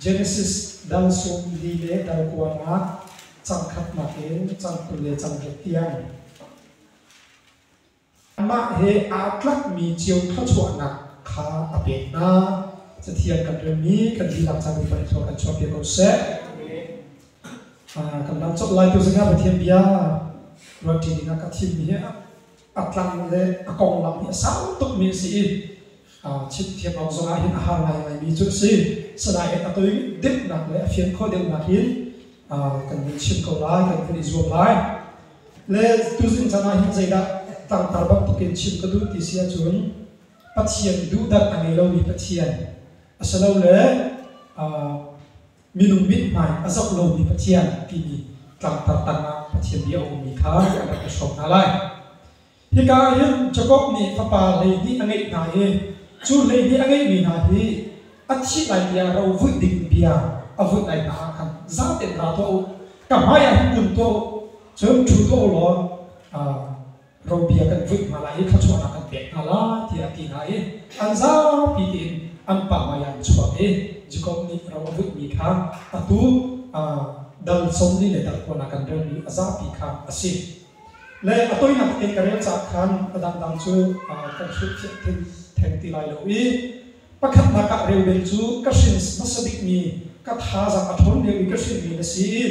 Genesis dang sawmli le dang kuarnak cangkhatnak in cang kul le cang khat tiang. Amah he aa tlakmi cio thluachuahnak kha a pek hna. Cathiang kan relmi kan lilak caan upa nih kan chuahpiak ko seh. Ah, kan lam cawk lai tu zingah Pathian bia ruat ṭi dingah ka thimmi hi a tlang le a konglam hi a sau tukmi a si i chim thiam lo zongah hin a har ngaingaimi cu a si. Sinain a toi deuhnak le a fian khawh deuhnak hi kan vun chim ko lai, kan vun i zuam lai. Le tuzing caan ah hin zeidah tangtar bang tukin chim ka duh ti si ahcun Pathian duhdat a ngei lomi Pathian asilole minung mithmai a zoh lomi Pathian timi tlangtar tangah Pathian bia a ummi kha an rak i hrawm hna lai. Hika ah hin Jakob nih fapa hleihnih a ngeih hna i cu hleihnih a ngeihmi hna hi a thih lai tiah ro vuih dingin bia a vunh lai hna ah khan zatein ra tuah u. Ka hmaiah hin kun tuah u, cun ṭhu tuah u law Rampi ah kan vuih hna lai i thluachuahnak kan pek hna lai tiah a ti hna i an zapi tein an pa hmai ah an chuak i Jakob nih ro a vuihmi kha atu dal sawmli le dal kuan ah kan relmi a zapi kha a si. Le a toinak tein ka rel caah khan a dangdang cu kan hrilhfiah theng ti lai lo i pakhatnak ah reu bel cu ka hrin hmasa bikmi ka thazaang a ṭhawn lio i ka hrinmi na si i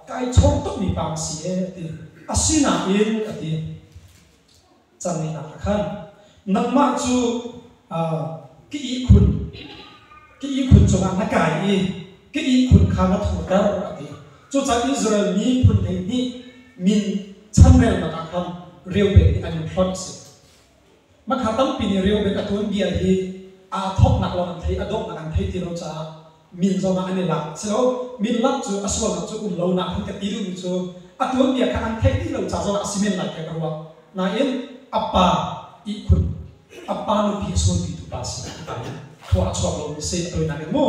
kai chawm tukmi pa ka si e, a ti. Asinain, a ti, cang ihnak ah khan, nangmah cu ka ihkhun, ka ihkhun cungah na kai i ka ihkhun kha na thurter, a ti. Cucaah Israel miphun hleihnih min chanrelnak ah khan reu pek nih an in hlonh a si. Mahka tampi nih reubet a tuan vial hi a thawknak lawng an thei, a donghnak an thei ti lo caah min zong ah an i lak a si lo. Min lak cu a sualnak cu um lonak an ka ti duhmi cu a tuanbia kha an theih dih lo ca zong ah a si men lai tiah ka ruah. Nain, a pa ihkhun, a pa nupi a sunpitu pa a si hika in khua a chuak lomi a si. A tawinak in mu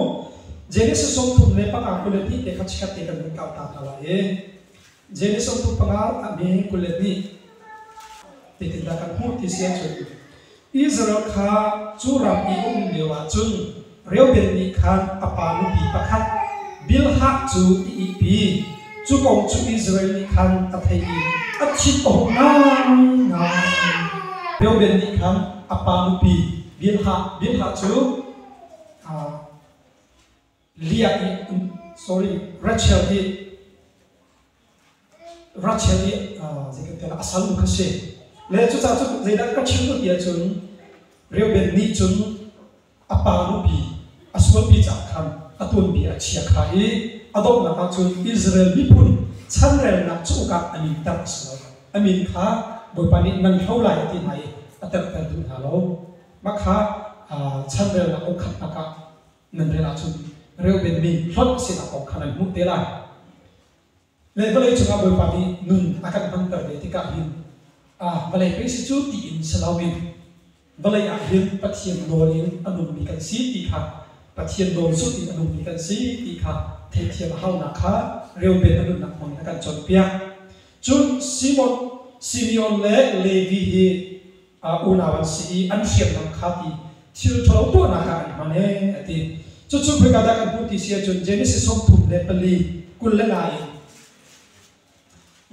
Genesis sawm thum le panga kul le hnih te kha chikkhat te kan vun kau ta hna lai i Jeimi sawmthum panga a mi kul le hnih titindah kan hmuh ti si ahcun Israel kha cu ram i um lio ahcun Reuben nih khan a pa nupi pakhat Bilhah cu i ihpi cu kong cu Israel nih khan a thei i a chim ohawm ngaingai. Reuben nih khan a pa nupi Bilhah Bilhah cu Leah nih sorry Rachel hi Rachel hi uh, a salnu kha si le cucaah cun zeidah ka chim duh ti ahcun Reuben nih cun a pa nupi a sualpi caah khan a tuanbi a chia kha i a donghnak ah cun Israel miphun chanrelnak cu ukak a minter a si lo a min kha Bawipa nih nan hlo lai a ti hna i a terter duh hna lo mah kha chanrelnak uk khatnak ah nan rel ahcun reubenmi hlonh sinak kong kha nan hmuh te lai. Le vawlei cungah Bawipa nih nun a kan hmanter ve tikah hin ah vawlei pei si cu tiin si loin vawlei ah hin Pathian nawl in a nunmi kan si ti kha Pathian nawl zulh in a nunmi kan si ti kha theihthiam a haunak kha reuben a nunnak hmang in a kan cawnpiak. Cun Simon, Simeon le Levi hi unau an si i an hriamnam kha ti thil ṭhalo tuahnak ah an hman ee a ti. Cucu khoika dah kan hmuh ti si ahcun Genesis sawmthum le pali kul le nga in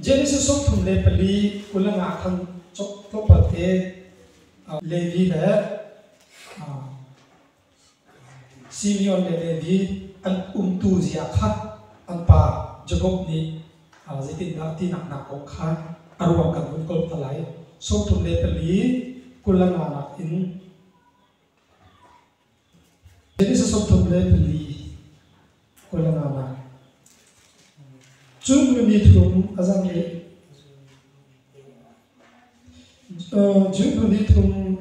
Genesis sawmthum le pali kul le nga khan tlawpal te Levi le Simeon le David an umtu zia kha an pa Jakob nih zeitindah tinak nak kong kha a ruang kan hun kolh ta lai. Sawmthum le pali kulana nakin Genesis sawmthum le pali Cu khuami thum a zam rih. Cu khuami thum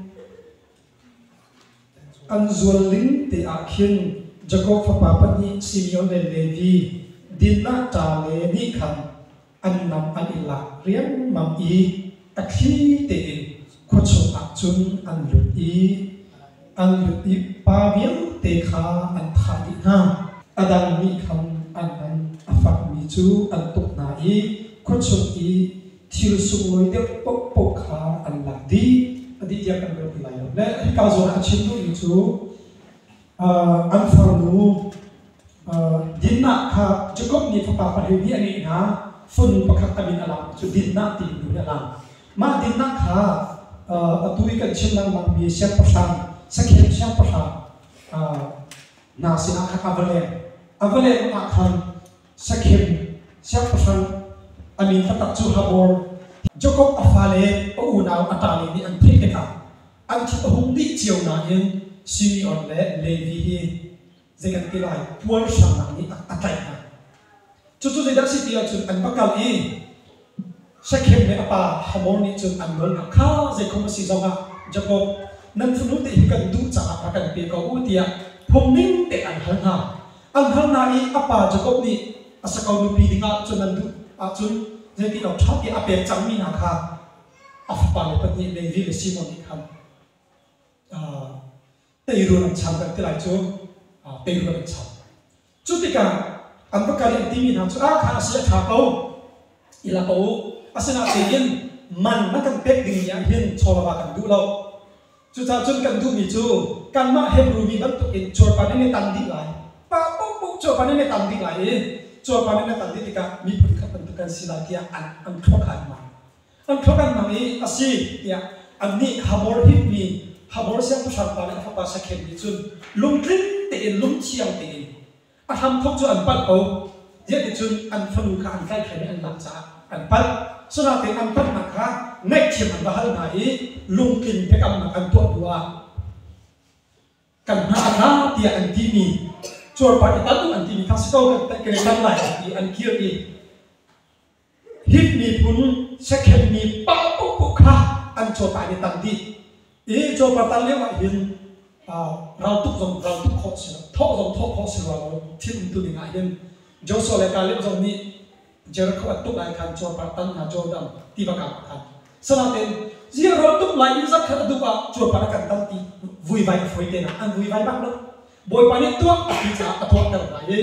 an zual ling te ah khin Jakob fapa pahnih Simeon le Levi, Dinah, Ta le nih khan an nam an i lak riangmang i a thli tein khua chungah cun an lut i an lut i pa vialte kha an thah dih hna a dang mi khan an nam a fakmi cu an tuk hna i khua chung i thil sunglawi deuh paohpaoh kha an lak dih a dih tiah kan ruah ti lai lo. Le hi ka zawn ah a chim duhmi cu an farnu Dinah kha Jakob nih fapa pahnih nih a ngeih hna fun pakhat tamin a lang cu Dinah ti nu nih a lang mah Dinah kha atu i kan chim lengmangmi siangpahrang sakhem siangpahrang hna sinah khan a va leng a va leng ah khan sakhem siangpahrang a min fatak cu Habor Jakob a fale a unau a ṭale nih an theih tikah an thin a hung dih cio nain Simeon le Levi hi zei kan ti lai puarhrangnak nih a tlaih hna. Cucu zeidah a si ti ahcun an va kal i Shekhem le a pa Hamor nih cun an nawl hna, kha zeikhom a si zongah Jakob nan fanu te hi kan duh caah a kan pe ko u tiah phungning te an hal hna. An hal hna i a pa Jakob nih a sako nupi dingah cun an duh ahcun zei ti lo ṭha tiah a pek cangmi hna kha a fapale pahnih Levi le Simon nih khan teirul an cham ti lai cu teirul an cham. Cu tikah an va kal i an timi hna cu a kha a si a ṭha ko i la ko u, asinain in man na kan pek dingmi ah hin chawlava kan duh lo. Cucaah cun kan duhmi cu kanmah Hebru mi bantukin cuarpar nih na tan dih lai, pa paohpaoh cuarpar nih na tan dih lai i cuarpar nih na tan dih tikah miphun khat bantuk kan si lai tiah an an thawh kha an mah. an thluakannak i a si tiah annih Habor himmi Habor siangpahrang pa le a fapa Shakhem nih cun lungtling tein lungthiang tein a hramthawk cu an palh ko, ziah ticun an fanu kha an tlaihhrem i an lak caah an palh. Cunatein an palhnak kha ngaihthiam an va hal hna i lungtling biakamnak an tuah hnuah kan hna a tla tiah an timi cuarpar i tal u an timi kha si ko kan tlaih kan i tan lai ti an kir i Hit miphun sekhen mi pa paohpaoh kha an cawpa in i tang dih i cawpa tar lio ahhin raltuk zong raltuk khawh a si lo thawh zong thawh khawh a si rua lo thil umtu ding ahhin Joshua le Caleb zong nih Jericho a tuk lai khan cawpa tan hna Jordan tiva kaa ah khan asinain ziah raltuk lai in zarh khat a duh ah cawpa na kan tan ti vuivai a fawi te na an vuivai bak lo Bawipa nih tuah ti caah a tuahter hna i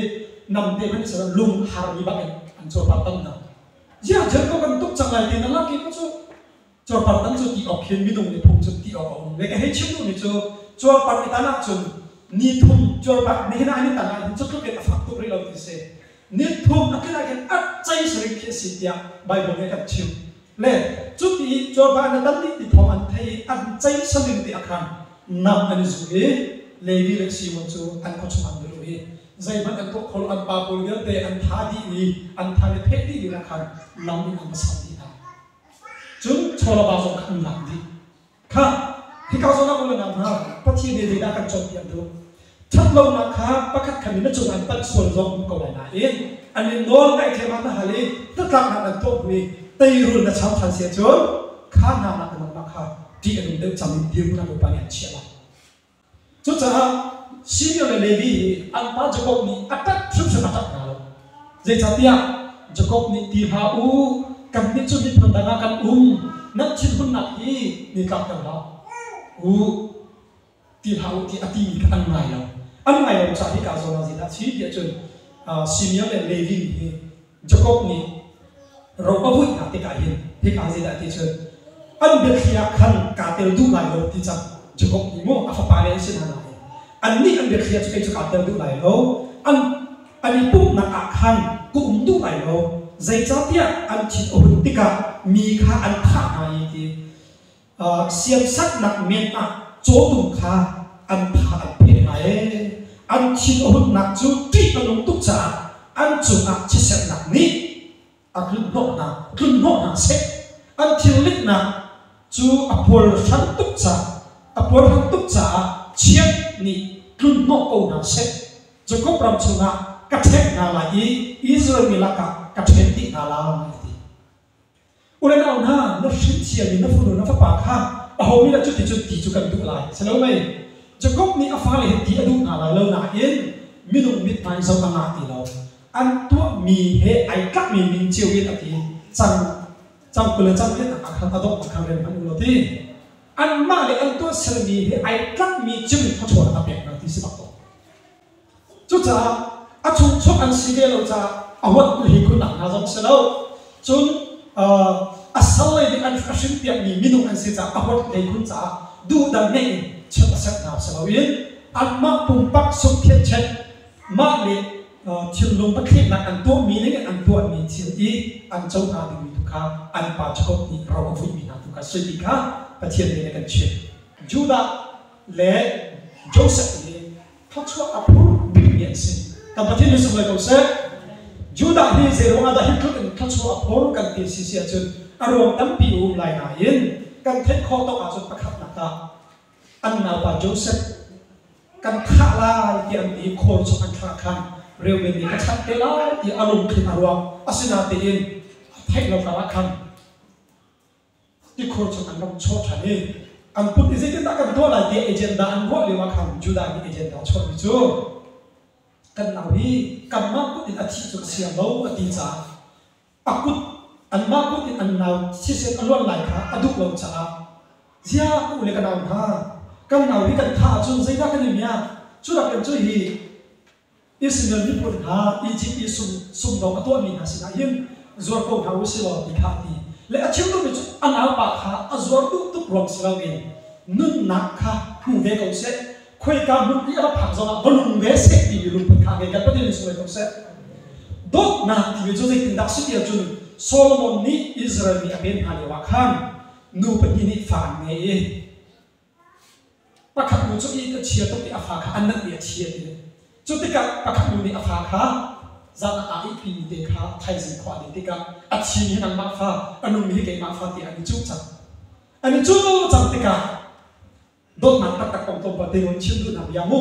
namte hmanh silo lung harmi bak in an cuarpar tam hna. Ziah Jeriko kan tuk cang lai tiin a lak i cu cu cuarpar tam cu ti awk hin minung le phung cu ti awk a um ve. Ka hei chim duhmi cu cuarpar i tan ahcun ni thum cuarpar nihin ah hin tan ahcun cutluk in a fak tuk rih lo ti a si. Nitphung a kil ah hin a cei sarih khi a si tiah Baibal nih a kan chimh. Le cuti i cawva na tam dih ti thawng an thei i an cei sarin te a khaan, nam an i zul i Levi le Simon cu an khuachung ah an lut i zeihmanh an tuah kho lo, an pa pawl vialte an tha dih i an than i pheh dih lio ah khan lam in an va sam dih hna. Cun chawlaba zong kha an lak dih. Khah, hika zawn ah maw na nam hnga? Pathian nih zeidah a kan cawnpiak duh? Ṭhatlonak kha pakhat khat in na cung ah hin panh sual zong a um ko lai nain an in nawl ngaih thleiman na hal i hnatlak hna nan tuah hnu i teirul na cho ṭhan si ahcun kha hna nakin nangmah kha ṭih a nung deuh cang in dirhmun ah Bawipa nih an chiah lai. Cucaah senior le Levi hi an pa Jakob nih a tat hrimhrim a tat hna lo. Zeicahtiah Jakob nih ti hlah u, kannih cu miphun dang ah kan um, nan thinhunnak hi ni tlakter hlah u, ti hlah u ti a timi kha an ngai lo. An ngai lo caah hika zongah zeidah a si tiah cun Senior le Levi mi hi Jakob nih ropa muihnak tikah hin hika zeidah ti cun an biathli ah khan kaa tel duh lai lo ti cang Jakob nih maw a fapale an si hna nain annih an biathli ah cu kei cu kaa tel duh lai lo an an i pumhnak ah khan ka um duh lai lo zeicahtiah an thin a hun tikah mi kha an thah hna i ti siamsaknak men ah cawtum kha an tha an phe hna e an thin a hunnak cu ṭih a nung tuk caah an cungah chiatserhnak nih a tlunhnawh hna tlunhnawh hna seh an thilliknak cu a puarhran tuk caah a puarhran tuk caah chiat nih tlunhnawh ko hna seh Jakob ram chungah ka ṭhek hna lai i Israel mi lakah ka ṭhen dih hna lai ti U le nau hna, na hrin thiam in na fanu na fapa kha aho nih dah cuticun ti cu kan duh lai? A si lo mei? Jakob nih a fale hi ti a duh hna lai lo nain minung mit hmai zong a ngah ti lo. An tuahmi he ai tlakmi ning cio in a ti cang. Cang kul le cang in a khan a dongh kha rem hmanh u law ti. Anmah le an tuahsermi he ai tlakmi cio in thluachuah a pek hna ti si bak ko. Cucaah a chungchuak an si ve lo caah a huat le hi khunnak hna zong si lo. Cun a sallei ding an a hrim piakmi minung an si caah a huat le khun caah duhdang ngeih in chiat a sianh hna si loin anmah pumpak sungkhiachiat mah le thilnung pathlehnak an tuahmi ningin an tuahmi thil i an co hna dingmi tu kha an pa Jakob nih ro a fuihmi hna tu kha a si ti kha Pathian nih a kan chimh. Judah le Josef hi thluachuah a phur bikmi an si. Kan Pathian nih sunglawi ko seh. Judah hi zeiruang ahdah hi tluk in thluachuah a phur kan ti si si ahcun a ruang tampi a um lai nain kan theih khawh tawk ahcun pakhatnak ah an naupa Josef kan thah lai ti an ti i khor chung an thlah khan reuben nih ka chanh te lai ti a lungthin a ruak asinain tiin a theih lo karah khan tikhor chung an rak chawh ṭhan i kan pum hi zeitindah kan tuah lai tiah agenda an ruah lioah khan Judah mi agenda a chuahmi cu kan nau hi kanmah kut in a thih cu a siang lo a ti caah a kut anmah kut in an nau thisen a luan lai kha a duh lo caah zia ka u le ka nau hna kan nau hi kan thah ahcun zeidah kan i miak cu rakin cu hi Israel miphun hna Izipt i sungdong a tuahmi hna sinah hin zuar ko hna u sih law ti kha a ti le a chim duhmi cu a naupa kha a zuar duh tuk ruang si loin nunnak kha hmu ve ko seh, khoika hmun i a rak phak zongah va nung ve seh timi lungput kha a ngei. Gal Pathian in sungh ko seh. Dawtnak timi cu zeitindah a si ti ahcun Solomon nih Israel mi a pen hna lioah khan nu pahnih nih fa an ngei i Pakhat nu cu inn kan chia tuk i a fa kha an nanhmi a thi a ti. Cu tikah pakhat nu nih a fa kha zan a aa ihpimi te kha thaizing khua a let tikah a thi mi hi nangmah fa, a nungmi hi keimah fa tiah an i cuh cang. An i cuh cang tikah dawtnak taktak kong tlawmpal te nawn chim duhnak bia mu.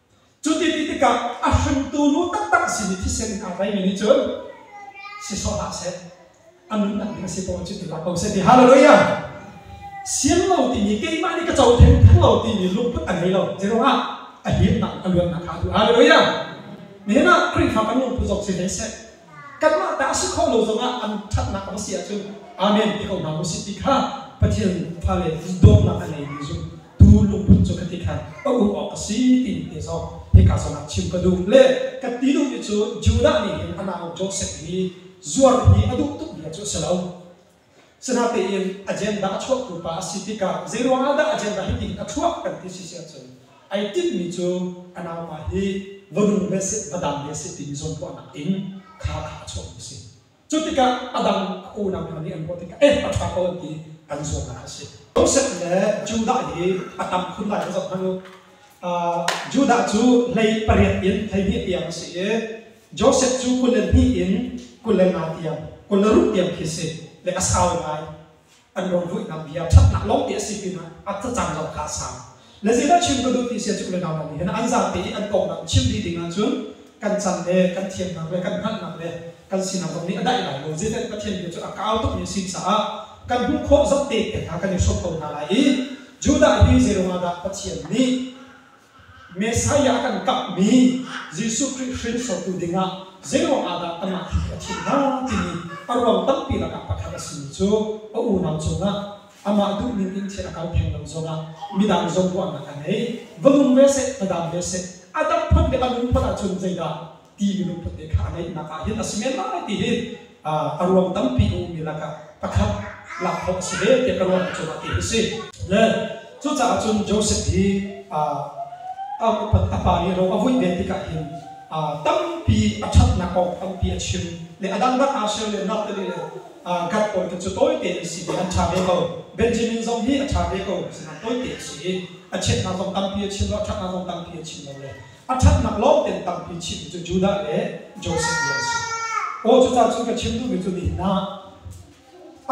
Cuti ti tikah a hringtu nu taktak sin i thisen in aa tlaimi nih cun si sawh hlah seh, a nunnak ding a si tawn cu ti hlah ko seh ti. Hallelujah! Sian lo timi, keimah nih ka co theng theng lo timi lungput a ngei lo. Zeiruangah? A hiatnak le a luatnak kha a duh. Hallelujah! Nihin ah Khrihfa kan lungput zong si hlei seh, kanmah ta a si khawh lo zongah an ṭhatnak a va si ahcun, Amen ti ko hna u sih ti kha Pathian fale dawtnak a ngeimi zumh tu lungput cu khati khan ka um awk a si tiin ti zong hika zawn ah chim ka duh. Le ka ti duhmi cu Judah mi nih a nau Josef i zuar hi a duh tukmi cu a si lo. Sinatein agenda a chuahtu pa a si tikah zeiruang ahdah agenda hi tiin a chuah kan ti si si ahcun ai tinhmi cu a nauma hi va nung ve seh, va dam ve seh timi zawntuahnak in kha kha a chuahmi a si. Cutikah a dang a unau hna nih an ruah tikah eh a ṭha ko an ti i an zuamnak a si. Josef le Judah hi a tam khun lai ka zoh hmanh u. Uh, Judah cu hlei pariat in hleihnih tiang a si i Josef cu kul le hnih in kul le nga tiang, kul le ruh tiang khi a si, le a sau ngai. an rungruihnak bia ṭhatnak lawngte a si pinah a thlacam zong kha a sau. Le zeidah chim ka duh ti si ahcun Kawlnau nih hin an zapi i an konglam chim dih dingah cun kan can le kan thiamnak le kan hngalhnak le kan sinak zong nih a daih lai lo. Zeitiah Pathian bia cu a ka au tukmi a si caah kan hmuh khawh zoh te pek hna kan i hrawm ko hna lai i Judah hi zeiruangahdah Pathian nih Messiah kan kamhmi Jesuh Khrih hringsortu dingah zeiruang ahdah kanmah hi a thim hna timi a ruang tampi lakah pakhat a simi cu a unau cungah amah duhning in thil a kal theng lo zongah midang zong ruahnak a ngei. Va nung ve seh, va dam ve seh. A dam phun le a nung phun ahcun zeidah ti ruphawn te kha a ngeihnak ah hin a si men lai ti hi a ruang tampi a ummi lakah pakhat lak thawh a si ve tiah ka ruah cungah ti hi si. Cucaah cun Joseph hi a upat a pa nih ro a vuih ve tikah hin tampi a ṭhatnak kong tampi a chim le a dangdang aa ser le naute le gat pawl te cu tawite an si ti an ṭha ve ko. Benjamin zong hi a ṭha ve ko, sinain tawite a si i a chiatnak zong tampi a chim lo, a ṭhatnak zong tampi a chim lo le A ṭhatnak lawngtein tampi chimmi cu Judah le Josef nih an si. Aw cucaah cu ka chim duhmi cu nihin ah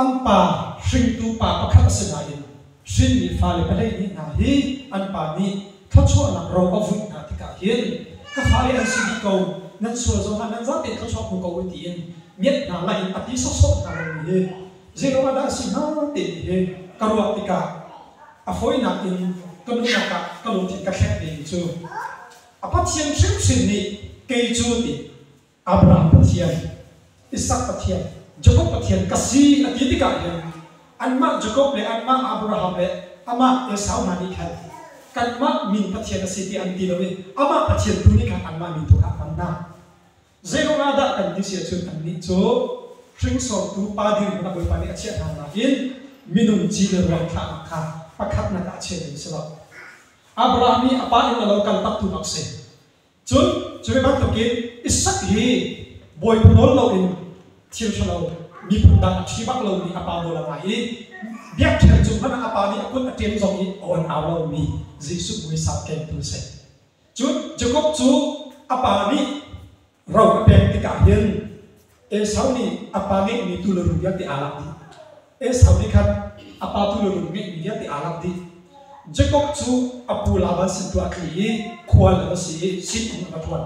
an pa hringtu pa pakhat a si nain hrinmi fale pahleih nih hna hi an pa nih thluachuahnak ro a vuih hna tikah hin ka fale an si dih ko, nan sual zong hlah, nan zatein thluachuah hmu ko u tiin ngiat hna lai in a ti sawhsawh hna lomi hi zeiruangahdah a si hnga timi hi ka ruah tikah A hawinak in ka nunnak ah ka lungthin ka thleng ding cu a Pathian hrimhrim nih kei cu ti Abraham Pathian, Isak Pathian, Jakob Pathian ka si a ti tikah hin anmah Jakob le anmah Abraham le amah Esau hna nih khan kanmah min Pathian a si ti an ti lo i amah Pathian tu nih khan anmah min tu kha a hman hna. Zeiruang ah dah kan ti si ahcun annih cu hringsortu pa dirhmun a Bawipa nih a chiah hna nakin minung ci le ruak thlahnak kha pakhatnak ah a chia ding a si lo. Abraham i a pa inn a lo kal taktu bak si. Cun cu ve bantukin Isak hi bawipa nawl loin thil ṭhalo miphun dang a ṭhi bak lomi a pa nawl a ngai i biakṭheng cung hmanh ah a pa nih a kut a ṭem zong i a on au lomi Jesuh mui sau kengtu a si. Cun Jakob cu a pa nih ro a pek tikah hin Esau nih a pa ngeihmi tuulun vialte aa lak dih. Esau nih khan a pa tuulun ngeihmi vialte aa lak dih. Jakob cu a pu Laban sin tuah a tli i khual a va si i sinum a va ṭhuan.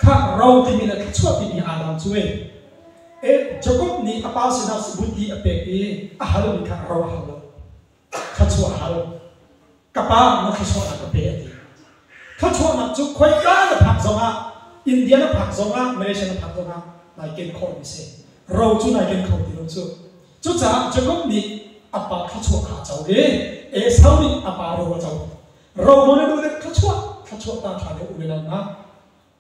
Khah ro timi le thluachuah timi aa dang cu ee. Jakob nih a pa sinah sibuti a pek i a halmi kha ro a hal lo. thluachuahhal ka pa na thluachuahnak ka pe a ti thluachuahnak cu khoika na phak zongah India na phak zongah Malaysia na phak zongah nai ken khawhmi si ro cu nai ken kho ti lo cu cucaah Jacob nih a pa thluachuah kha a co i Esau nih a pa ro a co ro nawn in ule thluachuah thluachuah ta ṭha lo ule nal hna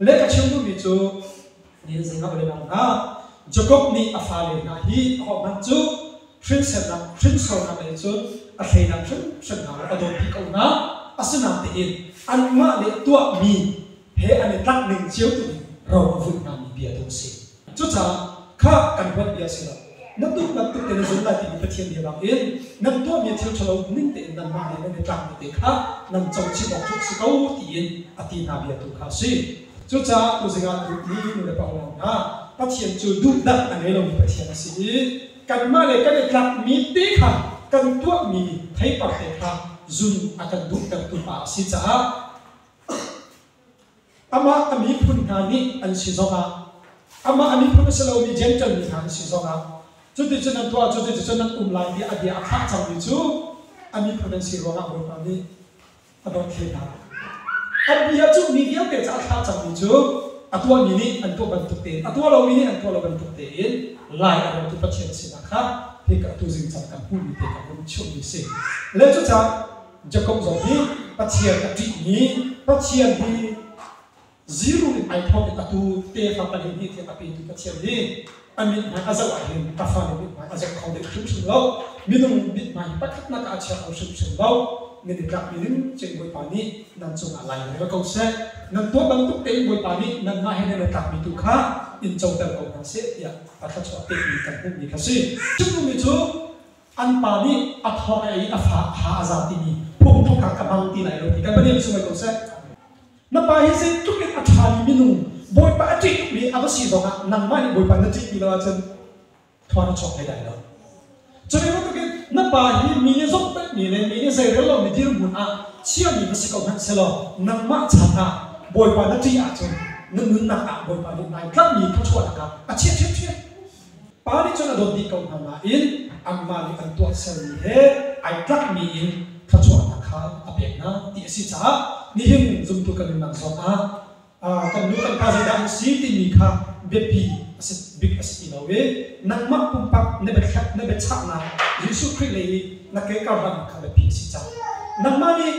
Leh ka chim duhmi cu nihin zingah kan i dang hna. Jakob nih a fale hna hi ahohmanh cu hrinsernak, hrinsornak lei cun a hreinak hrimhrim hna a dawtpi ko hna. Asinain tihin anmah le tuahmi he an i tlak ning cio tu in ro a vun hngami bia tu a si. Cucaah kha kan huat bia a si lo. Na tuknak tuk te na zul lai timi Pathian bia bangin nan tuahmi thil ṭhalo ning tein nanmah le nan i tlangmi te kha nan co chih awk cu a si ko tiin a ti hna bia tu kha a si. Cucaah tuzing ah tuk i nu le panguang hna, Pathian cu duhdah a ngei lomi Pathian a si i kanmah le kan i tlakmi te kha kan tuahmi theipar te kha zun a kan duhtertu pa a si caah Amah a miphun hna nih an si zongah, amah a miphun a si lomi Jentail mi hna an si zongah, cuticun an tuah, cuticun an um lai tiah a bia a phah cangmi cu a miphun an si ruangah Bawipa nih a dawt hlei hna. A bia cu mi vialte caah a thlah cangmi cu a tuahmi nih an tuah bantuk tein, a tuah lomi nih an tuah lo bantuk tein lai a rawtu Pathian sinah kha hi ka tu zingcang kan hmuhmi te kha vun chimhmi a si. Le cucah Jakob zong nih Pathian a ṭihmi Pathian hi ziru in ai thawk i a tu te fa pahnih nih a pi Pathian nih a mithmai a zoh ahhin a fanu mithmai a zoh kho ding hrimhrim lo minung mithmai hi pakhatnak ah a chia kho hrimhrim lo nan i tlakmi ding cun Bawipa nih nan cungah lai rel ko seh nan tuah bantuk tein Bawipa nih nanmah he nan i tlakmi tu kha in coter ko hna seh tiah a thluachuah pekmi kan hmuhmi kha si. Cu mi cu an pa nih a thor a ei a fa a ha a za timi phungthlukak a hmang ti lai lo ti kan va nem sung ko seh. Na pa hi zeitluk in a ṭhami minung Bawipa a ṭih tukmi a va si zongah nangmah nih Bawipa na ṭih ti lo ahcun thawn a chawk hlei lai lo. Cu ve bantukin na pa hi mi nih zumhfekmi le mi nih zeirel lomi dirhmun ah chiami va si ko hmanh selaw nangmah chan ah Bawipa na ṭih ahcun na nunnak ah Bawipa nih nai tlakmi thluachuahnak kha a chiah ṭhiamṭhiam. Pa nih cun a dawt dih ko hna nain anmah nih an tuahsermi he ai tlakmi in thluachuahnak kha a pek hna ti a si caah nihin zumtu kan nunnak zongah kan nu kan pa zeidah an si timi kha biapi a si bik a si ti lo i nangmah pumpak na biathlep na biachahnak Jesuh Khrih lei i na ke karhlannak kha biapi a si caah nangmah nih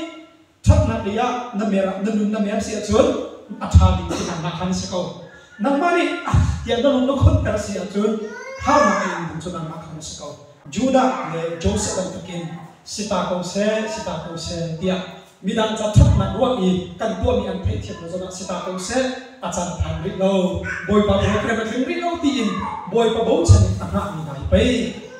Ṭhathnaklei ah na mer na nun na mer si ahcun a ṭha ding cu nangmah kha na si ko. Nangmah nih tiah na lung na khunter si ahcun harnak a ingmi ding cu nangmah kha na si ko. Judah le Josef bantukin si ta ko seh, si ta ko seh tiah midang ca ṭhatnak ruah i kan tuahmi an theihthiamnak zongah si ta ko seh a can phang rih lo bawipa biakiam a tling rih lo tiin bawipa bochan in a hngahmi hna hi pei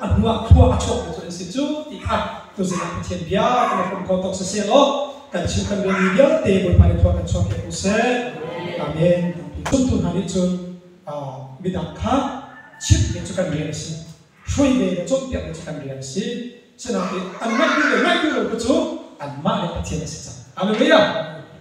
a hnu ah khua a chuakmi cu an si cu ti khan tuzing ah Pathian bia kan i pum kho tok siseh law kan chim kan relmi vialte bawipa nih thawng kan chuah piak ko seh amen zumtu hna nih cun midang kha chimhmi cu kan rian a si hrui ve le cawnpiakmi cu kan rian a si sinain an ngaihtu le ngaihtu lo te cu anmah le Pathian a si cang hallelujah